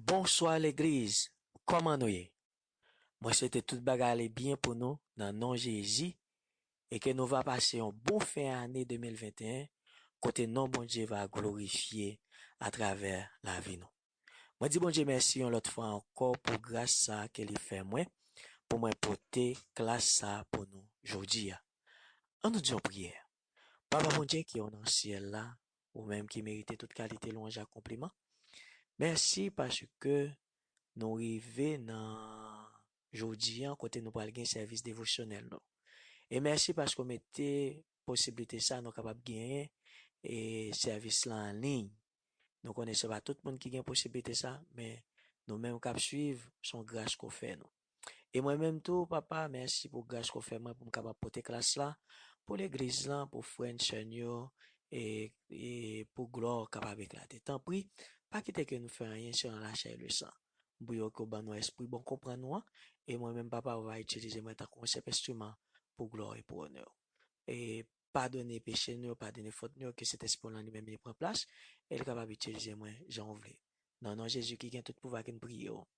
Bonswa legliz kòman nou ye mwen swete tout bagay ale byen pou nou nan non jezi e ke nou va pase yon bon fen ane 2021 kote non Bondye va glorifye atravè lavi nou mwen di Bondye mèsi yon lòt fwa ankò pou gras sa ke li fè mwen pou mwen pote klas sa pou nou jodi a an nou di yon priyè papa Bondye ki o nan syèl la ou menm ki merite tout kalite lwanj ak konpliman. Mèsi paske nou rive nan jodi an kote nou pral gen sèvis devosyonèl nou. E mèsi paske ou mete posiblite sa nou kapab genyen e sèvis lan an liy. Nou konnen se pa tout moun ki gen posiblite sa, men nou menm k ap suiv, s on gras ke w fè nou. E mwen menm tou, Papa, mèsi pou gras ke w fè mwen pou m kapab pote klas la pou Legliz lan, pou frè n, sè n yo, e pou glwa w kapab eklate. Tanpri, pa kite ke nou fè anyen selon lachè e lesan. M priye w ke w ban nou èspri bon konprann ou an, e mwen menm, Papa, ou va itilize mwen tankou yon senp enstriman pou glwa w e pou onè w. E padone peche nou yo, padone fot nou yo, ke Sentespri w lan li menm li pran plas, e l kapab itilize mwen jan w vle. Nan non Jezi ki gen tout pouvwa ke n priye w.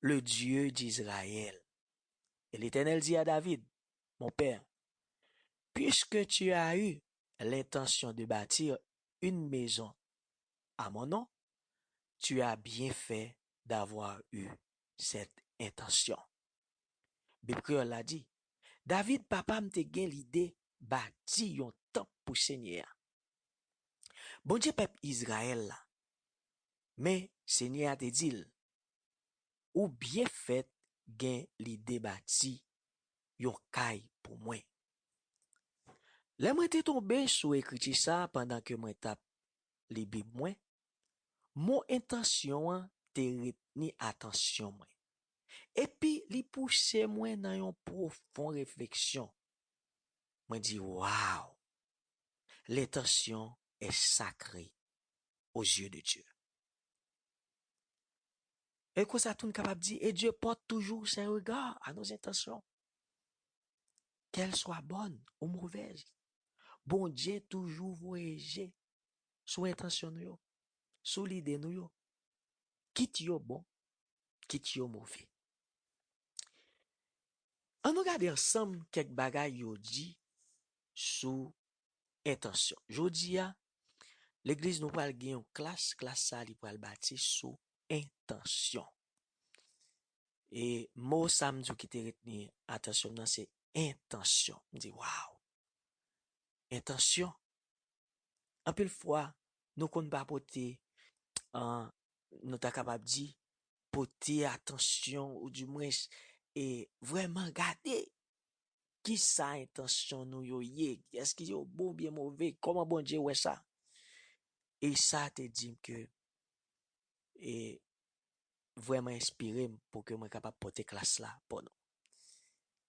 le Dieu d'Israël. Et l'Eternel dit à David, Mon père, puisque tu as eu l'intention de bâtir une maison à mon nom, tu as bien fait d'avoir eu cette intention. Bib Kreyòl la di, David, papa m te gen lide bati yon tanp pou Senyè a. Bondye pèp Izrayèl la Men, Senyè a te di l, Ou byen fèt gen lide bati yon kay pou mwen. Lè mwen te tonbe sou ekriti sa a pandan ke mwen t ap li Bib mwen, mo entansyon an te retni atansyon mwen, epi li pouse mwen nan yon pwofon refleksyon. Mwen di, Wow! Lentansyon è sakre. aux yeux de Dieu. E konsa tou n kapab di, e Dye pòt toujou se rega a nou zentasyon. Kèl swa bòn ou movèz, Bondye toujou voye je sou entansyon nou yo, sou lide nou yo, kit yo bon, kit yo move. An nou gade ansanm kèk bagay yo di sou entansyon. Jodi a, legliz nou pral gen yon klas, klas sa li pral bati sou entansyon. E mo sa m di w ki te retni atansyon m nan se entansyon. M di waw, entansyon. Anpil fwa, nou konn pa pote, an, nou ta kapab di, pote atansyon ou di mwens, e vreman gade. Kisa entansyon nou yo ye? Èske yo bon oubyen move? Kòman Bondye wè sa? E sa te di m ke e vrèman enspire m pou ke mwen kapab pote klas la pou nou.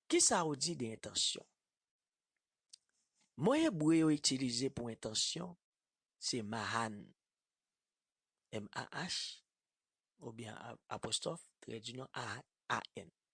Kisa ou di de entansyon? Mo ebre yo itilize pou entansyon se mahan, MAH, oubyen apostwòf, trèdinyon, AN.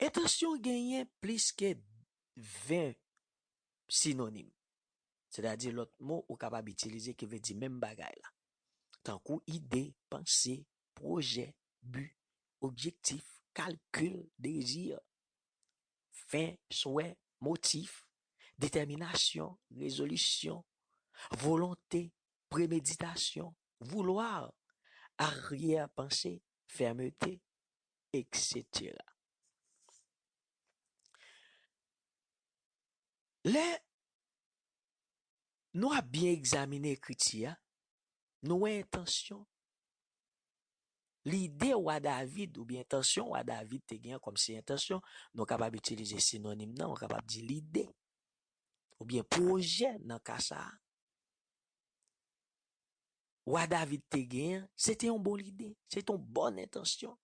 Entansyon genyen plis ke 20 sinonim, sètadi lòt mo ou kapab itilize ki vle di menm bagay la, tankou ide, panse, pwojè, bi, objektif, kalkil, dezi, fen, swè, motif, detèminasyon, rezolisyon, volonte, premeditasyon, vouloir, aryèpanse, fèmete, eksetera. Lè nou ap byen egzamine ekriti a, nou wè entansyon, lide wa David oubyen entansyon wa David te gen kòm se entansyon, nou kapab itilize sinonim nan, ou kapab di lide oubyen pwojè nan ka sa a. wa David te gen an, se te yon bon lide, se te yon bòn entansyon.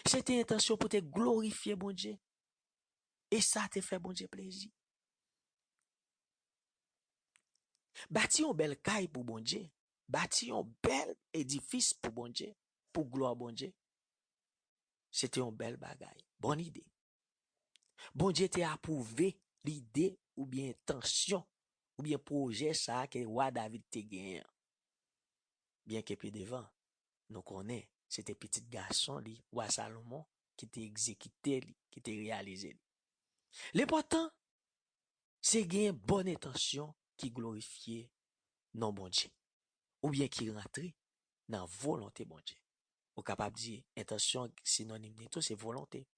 Se te entansyon pou te glorifye Bondye. E sa te fè Bondye plezi. Bati yon bèl kay pou Bondye, bati yon bèl edifis pou Bondye, pou glwa Bondye, se te yon bèl bagay, bòn ide. Bondye te apwouve lide oubyen entansyon oubyen pwojè sa a ke wa David te genyen an, byenke pi devan nou konnen se te pitit gason li, wa Salomon, ki te egzekite li, ki te reyalize li. Lenpòtan se genyen bòn entansyon ki glorifye non Bondye oubyen ki rantre nan volonte Bondye. Ou kapab di entansyon sinonim li tou se volonte.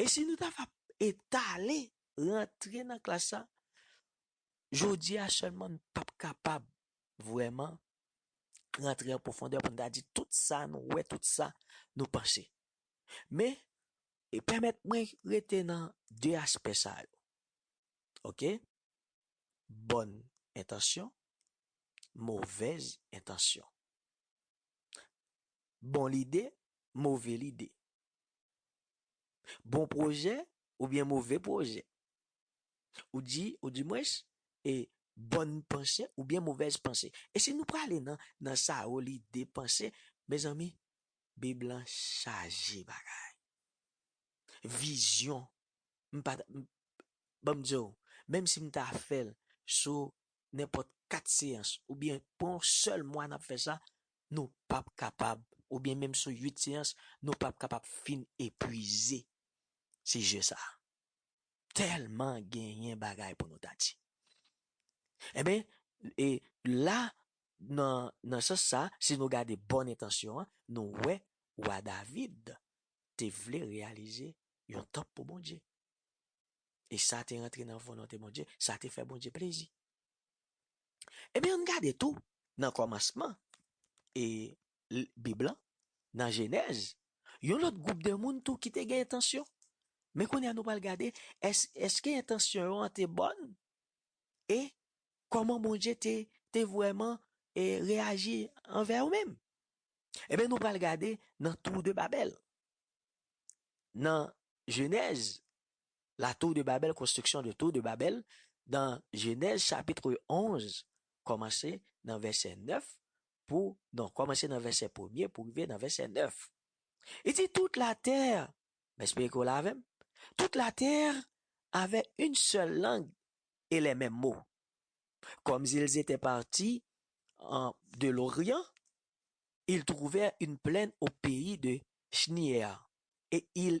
E si nou ta va etale rantre nan klas la, jodi a sèlman nou pap kapab vrèman rantre an pwofondè pou nou ta di tout sa nou wè, tout sa nou panse. Men, e pèmèt mwen rete nan de aspè sa yo. Ok? Bòn entansyon, movèz entansyon. Bon lide, move lide. Bon pwojè oubyen move pwojè? Ou di, ou di mwens, e bòn panse oubyen movèz panse? E si nou prale nan, nan sa yo li depanse, mezanmi, Bib lan chaje bagay. Vizyon, m pa ta, m, ban m di w, menm si m ta fè l sou nenpòt kat seyans oubyen pou yon sèl mwa n ap fè sa, nou pap kapab oubyen menm sou 8 seyans nou pap kapab fin epwize sijè sa a. Tèlman genyen bagay pou nou ta di. Enben, e la nan nan sans sa a, si nou gade bòn entansyon an, nou wè wa David te vle reyalize yon tanp pou Bondye. E sa te rantre nan volonte Bondye, sa te fè Bondye plezi. Ebyen ann gade tou nan kòmansman e bib lan nan jenèz yon lòt gwoup de moun tou ki te gen entansyon men kounye a nou pral gade èske entansyon yo an te bòn e kòman Bondye te te vrèman e reyaji anvè yo menm ebyen nou pral gade nan tou de babèl nan jenèz La tour de Babel, construction de tour de Babel, dans Genèse chapitre 11 kòmanse nan vèsè 9 pou non kòmanse nan vèsè premye pou rive nan vèsè 9. Li di toute la terre, m espere ke w la avè m, toute la terre avait une seule langue et les mêmes mots. Comme ils étaient partis en de l'Orient, ils trouvèrent une plaine au pays de Schneeër et ils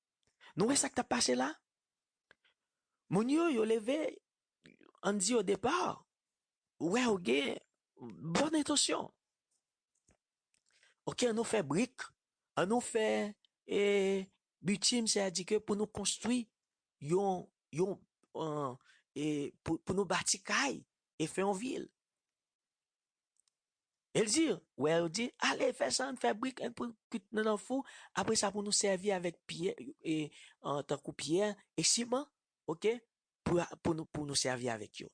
Nou wè sak tap pase la? Moun yo, yo leve, ann di odepa, ou wè yo gen bon entansyon. Ok, annou fè brik, annou fè e bitim, sè a di ke pou nou konstwi yon, yon, an, e pou nou bati kay e fè yon vil. El di, wè yo di, ale fè sa, an fè brik, an pran kwit nan nan fou, apre sa pou nou sèvi avèk pyè, e, an tankou pyè, e siman, ok, pou a, pou nou, pou nou sèvi avèk yo.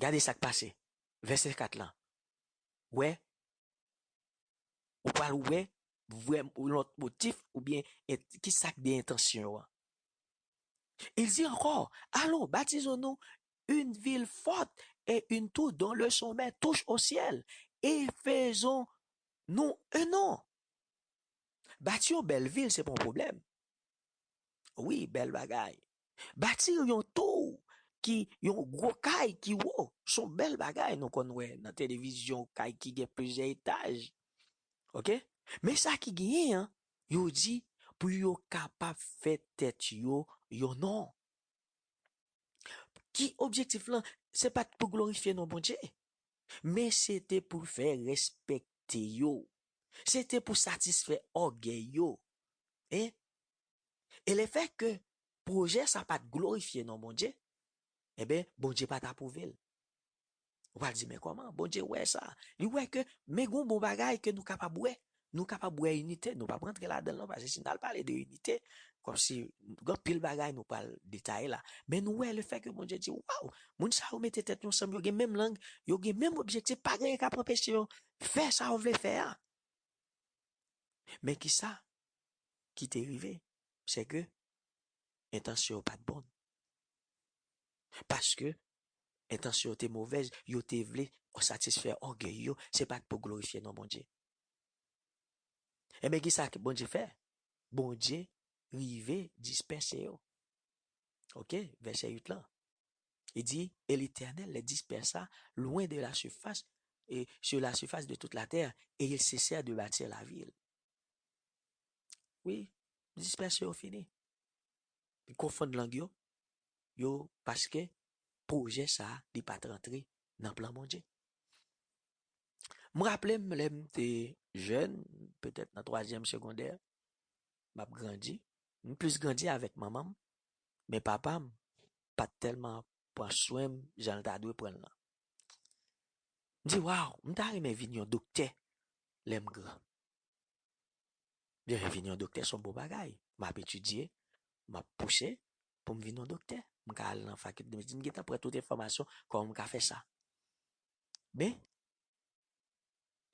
Gade sa k pase, vèsè 4 lan, wè, ou pral wè, vrè, yon lòt motif, oubyen, e, ki sa k de entansyon an. El di ankò, alon, batizo nou, une ville forte et une tour dont le sommet touche au ciel et faisons nou un nom bati yon bèl vil se pa yon pwoblèm wi bèl bagay bati yon tour ki yon gwo kay ki wo son bèl bagay nou konn wè nan televizyon kay ki gen plizyè etaj ok men sa ki genyen an yo di pou yo kapab fè tèt yo yon non. Ki objektif lan, se pa t pou glorifye non Bondye, men se te pou fè respekte yo, se te pou satisfè ògèy yo. E lefè ke pwojè sa pa t glorifye non Bondye, enben, Bondye pa t apwouve l. Ou pral di men kòman Bondye wè sa? Li wè ke men gon bon bagay ke nou kapab wè. Nou kapab wè inite, nou pap rantre ladan l non pase si n al pale de inite kòmsi gen anpil bagay nou pral detaye la. Men nou wè lefè ke Bondye di waw moun sa yo mete tèt yo ansanm yo gen menm lang, yo gen menm objektif pa gen kap anpeche yo fè sa yo vle fè a. Men kisa ki te rive se ke entansyon yo pat bon. Paske Entansyon yo te movèz, yo te vle satisfè ògèy yo, se pa t pou glorifye non Bondye. Enben, ki sa Bondye fè? Bondye rive dispèse yo. Oke, vèsè 8 lan, li di, E Letènèl lè dispèsa lwen de lasifas, e sou lasifas de tout latè, e il sesè de bati lavil. Wi, dispèse yo fini. Li konfonn lang yo, yo paske pwojè sa li pat rantre nan plan Bondye. M raple m lè m te jèn, petèt nan twazyèm segondè, m ap grandi, m plis grandi avèk manman m, men papa m pat tèlman pran swen m jan l ta dwe pran l lan. M di waw, m ta renmen vin yon doktè lè m gran. Vin yon doktè s on bon bagay, m ap etidye, m ap pouse, pou m vin yon doktè, m ka al nan fakilte medsin, m gentan pran tout enfòmasyon kòman m ka fè sa. Men,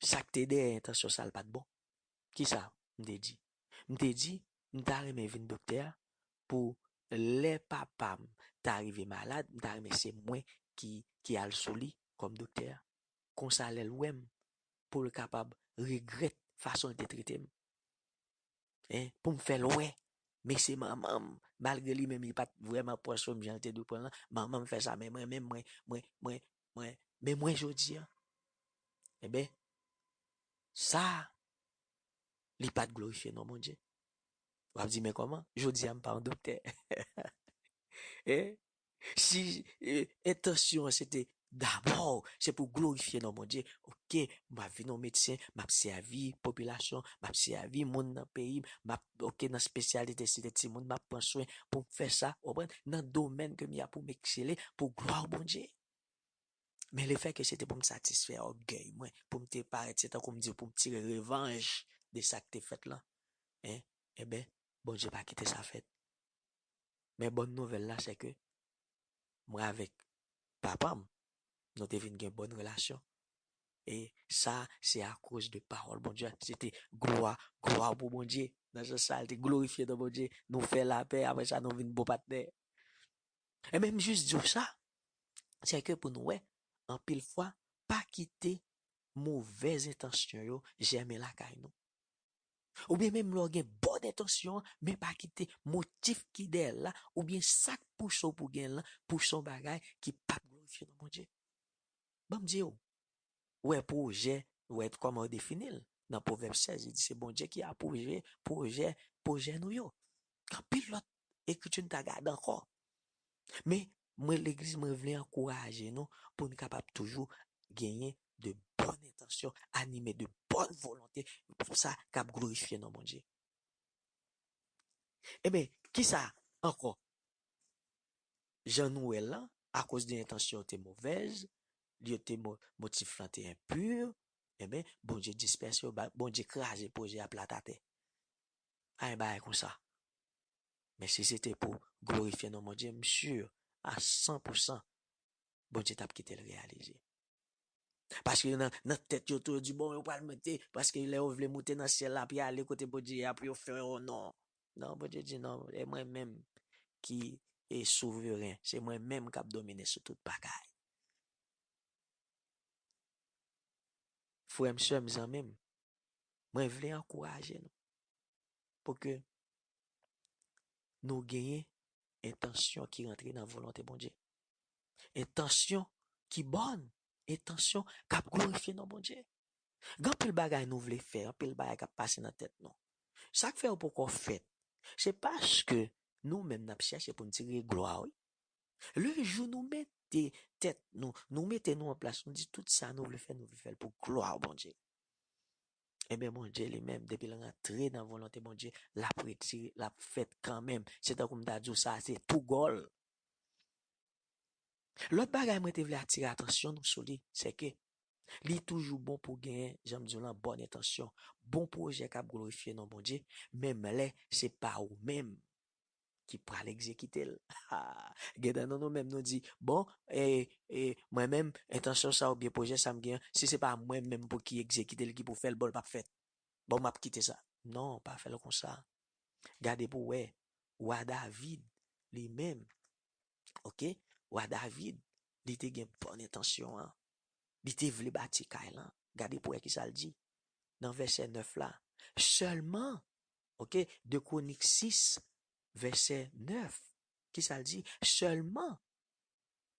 sa k te dèyè entansyon sa l pa t bon. Ki sa m te di? M te di, m ta renmen vin doktè pou lè papa m ta rive malad, m ta renmen se mwen ki al sou li kòm doktè. Kon sa lè l wè m, pou l kapab regrèt fason l te trete m. hein, pou m fè l wè men se manman m malgre li menm li pa t vrèman pran swen m jan l te dwe pran l lan, manman m fè sa men mwen menm mwen, mwen, mwen, mwen, men mwen jodi an enben sa li pa t glorifye non Bondye. W ap di men kòman, jodi a m pa yon doktè eh, Si entansyon an se te dabò se pou glorifye non Bondye, ok, m ap vin yon medsen, m ap sèvi popilasyon, m ap sèvi moun nan peyi m, m ap, ok, nan spesyalite si se timoun m ap pran swen pou m fè sa, ou konprann, nan domèn ke m ye a pou m eksele pou glwa Bondye. Men lefè ke se te pou m satisfè ògèy mwen, pou m te parèt, se tankou m di w pou m tire revanj de sa k te fèt lan, en, enben, Bondye pa kite sa fèt. Men bòn nouvèl la se ke mwen avèk papa m, nou te vin gen bòn relasyon. E sa a se akoz de pawòl Bondye a. Se te glwa, glwa pou Bondye. Nan sans sa a, l te glorifye non Bondye. Nou fè lapè, apre sa nou vin bon patnè. Enben, m jis di w sa, se ke pou nou wè, anpil fwa, pa kite movèz entansyon yo jèmen lakay nou. Oubyen menm lè w gen bon entansyon men pa kite motif ki dèyè l la oubyen sa k pouse w pou w gen l lan pouse w bagay ki p ap glorifye non Bondye. Ban m di w, wè pwojè, wè kòman yo defini l nan Pwovèb 16, li di se Bondye ki apwouve pwojè pwojè nou yo. Gen anpil lòt ekriti n ta gade ankò. Men, mwen legliz mwen vle ankouraje nou pou n kapab toujou genyen de bòn entansyon, anime de bòn volonte pou sa k ap glorifye non Bondye. Enben, ki sa ankò? Jan nou wè l lan, akoz de entansyon yo te movèz, yo te motif lan te enpu, enben, Bondye dispèse yo, Bondye kraze pwojè a plat atè. Pa gen bagay konsa. Men si se te pou glorifye non Bondye, m sur a san pou san Bondye tap kite l reyalize. Paske yo nan tèt yo tou yo di bon yo pral monte, paske lè yo vle monte nan syèl la pou yo ale kote Bondye a pou yo fè yon non. Non Bondye di non, e mwen menm ki e souveren, se mwen menm kap domine sou tout bagay. Frè m, sè m, zanmi m. Mwen vle ankouraje nou pou ke nou genyen entansyon ki rantre nan volonte Bondye. Entansyon ki bòn, entansyon k ap glorifye non Bondye. Gen anpil bagay nou vle fè, anpil bagay k ap pase nan tèt nou. Sa k fè yo poko fèt, se paske nou menm n ap chèche pou n tire glwa wi. Le jou nou mete tèt nou, nou mete nou an plas, nou di tout sa nou vle fè, nou vle fè l pou glwa Bondye. Ebyen Bondye li menm depi l rantre nan volonte Bondye lap retire lap fèt kanmenm se tankou m ta di w sa se tou gòl. Lòt bagay mwen te vle atire atansyon nou sou li se ke li toujou bon pou gen jan m di w lan bòn entansyon, bon pwojè kap glorifye non Bondye menm lè se pa ou menm ki pral egzekite l. Gen nan nou nou menm nou di, bon, e, e, mwen menm, entansyon sa oubyen pwojè sa m gen an, si se pa mwen menm pou ki egzekite l, ki pou fè l, bon l p ap fèt. Bon, m ap kite sa. Non, pa fè l konsa. Gade pou w wè, wa David li menm, oke, wa David, li te gen bon entansyon an. Li te vle bati kay lan. Gade pou w wè ki sa l di nan vèsè 9 la, Sèlman, Ok, 2 Kronik 6, vèsè 9, ki sa l di? Sèlman,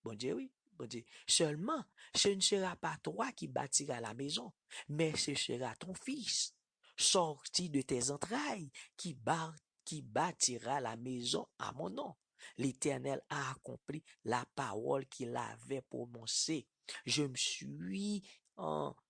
Bondye wi, Bondye, sèlman, se n sera pa twa ki batira lamezon, mè se sera ton fis, sòti de tè zantray, ki bar, ki batira lamezon a mon non. Letènèl a akonpli lapawòl ki l avè pwononse, je m sui an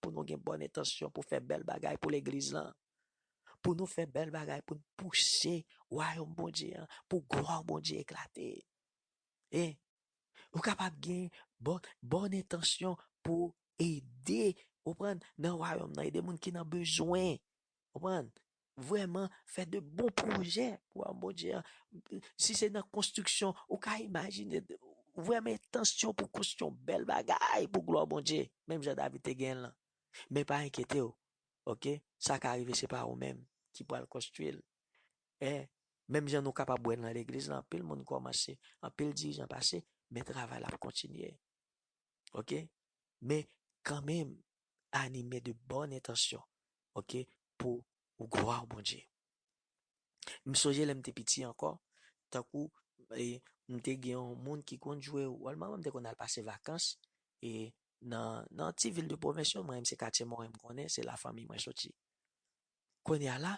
pou nou gen bòn entansyon pou fè bèl bagay pou Legliz lan, pou nou fè bèl bagay pou n pouse Wayòm Bondye a, pou glwa Bondye eklate. E, ou kapab gen bòn, bòn entansyon pou ede, ou konprann, nan Wayòm nan, ede moun ki nan bezwen, ou konprann, vrèman fè de bon pwojè pou wayòm Bondye a. Si se nan konstriksyon, ou ka imajine vrèman entansyon pou konstwi yon bèl bagay pou glwa Bondye, menm jan David te genyen l lan. Men pa enkyete w, oke, sa ka rive se pa ou menm ki pral konstwi l. E, menm jan nou kapab wè nan legliz lan, anpil moun kòmanse, anpil dirijan pase, men travay la ap kontinye. Oke? Men, kanmenm, anime de bòn entansyon ok pou gwa Bondye. M sonje lè m te piti ankò, tankou e m te gen yon moun ki konn jwe wòl manman m te konn al pase vakans e nan nan ti vil de pwovens yo mwen se katye moren m konnen se la fanmi mwen soti. Kounye a la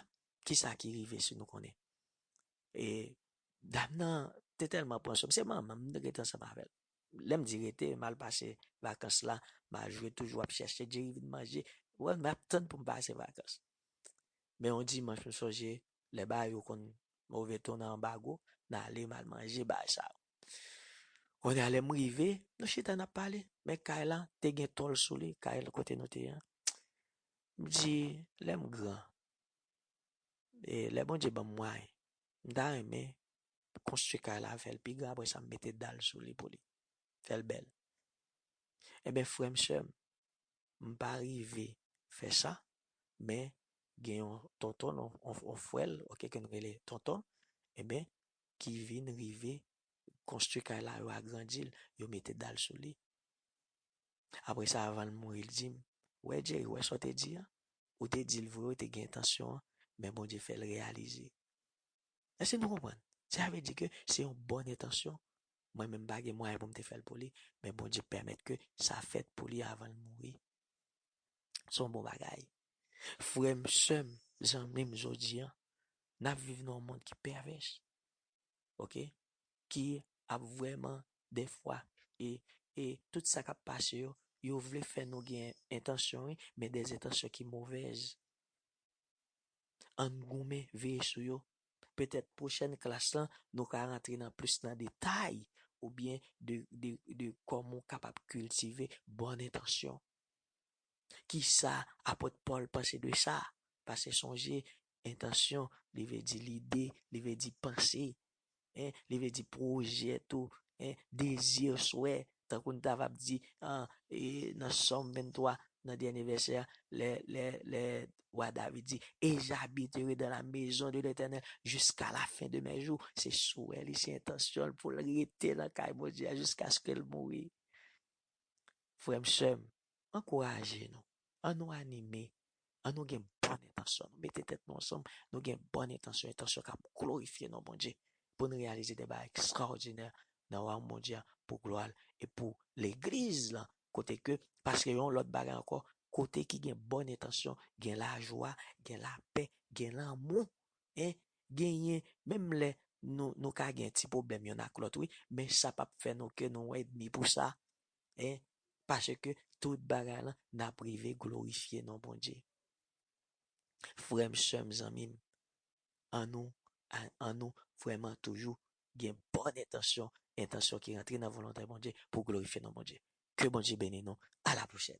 kisa ki rive si nou konnen e dam nan te tèlman pran sou m se manman m m te rete ansanm avè l Lèm di rete, mal pase vakans la, ma jwe toujou ap chèche Jerry vin manje, ou wèl map tann poum pase vakans. Men yon dimanch m sonje lè bar yo konn move ton nan anbago, m ale mal manje bar sa yo. Kounye a lèm rive, nou chita nap pale, men kay la te gen tòl sou li, kay kote nou te ye an. M di lèm gran, e lè Bondye banm mwayen, m ta renmen konstwi kay la fèl pi gran apresa m mete dal sou li pou li fèl bèl enben frèm sèm m pa rive fè sa men gen yon tonton yon frèl ok ke nou rele tonton enben ki vin rive konstwi kay la yo agrandi l yo mete dal sou li apresa avan l mouri l di m wè Jerry wè sa w te di an ou te di l vre ou te gen entansyon an men Bondye fè l reyalize. Èske nou konprann? Sa vle di ke se yon bòn entansyon, mwen menm m pa gen mwayen pou m te fè l pou li, men Bondye pèmèt ke sa fèt pou li avan l mouri. Se yon bon bagay. Frè m, sè m, zanmi m, jodi a, n ap viv nan yon mond ki pèvès, ok, ki ap vrèman dèfwa e, e tout sa k ap pase yo, yo vle fè nou gen entansyon wi, men dèzentansyon ki movèz. Ann goumen, veye sou yo. Petèt pwochèn klas lan nou ka rantre nan plis nan detay oubyen de kòman ou kapab kiltive bòn entansyon. Kisa Apot Pòl panse de sa? Pase sonje, entansyon, li vle di lide, li vle di panse, hein, li vle di pwojè tou, hein, dezi, swè, tankou n ta ap di an, e, nan Sòm 23, nan dènye vèsè a, lè, lè, lè wa David di, E j'habiterai dans la maison de l'Etènèl jiska la fen de mè jou, se swè li, se entansyon l pou l rete nan kay Bondye a jiskaske l mouri. Frè m, sè m, ankouraje nou, an nou anime, an nou gen bon entansyon, an nou mete tèt nou ansanm, nou gen bon entansyon, entansyon k ap glorifye non Bondye, pou n reyalize de bagay ekstraòdinè nan Wayòm Bondye a pou glwa l e pou Legliz lan, kote ke, paske yon lòt bagay ankò, kote ki gen bon entansyon, gen lajwa, gen lapè, gen lanmou, en, genyen, menm lè nou ka gen ti pwoblèm yonn ak lòt, wi, men sa p ap fè nou ke nou edmi pou sa, hein paske tout bagay lan nap rive glorifye non Bondye frèm sèm zanmim an nou an nou vrèman toujou gen bòn entansyon entansyon ki rantre nan volontè Bondye pou glorifye non Bondye ke Bondye beni nou a la pwochèn.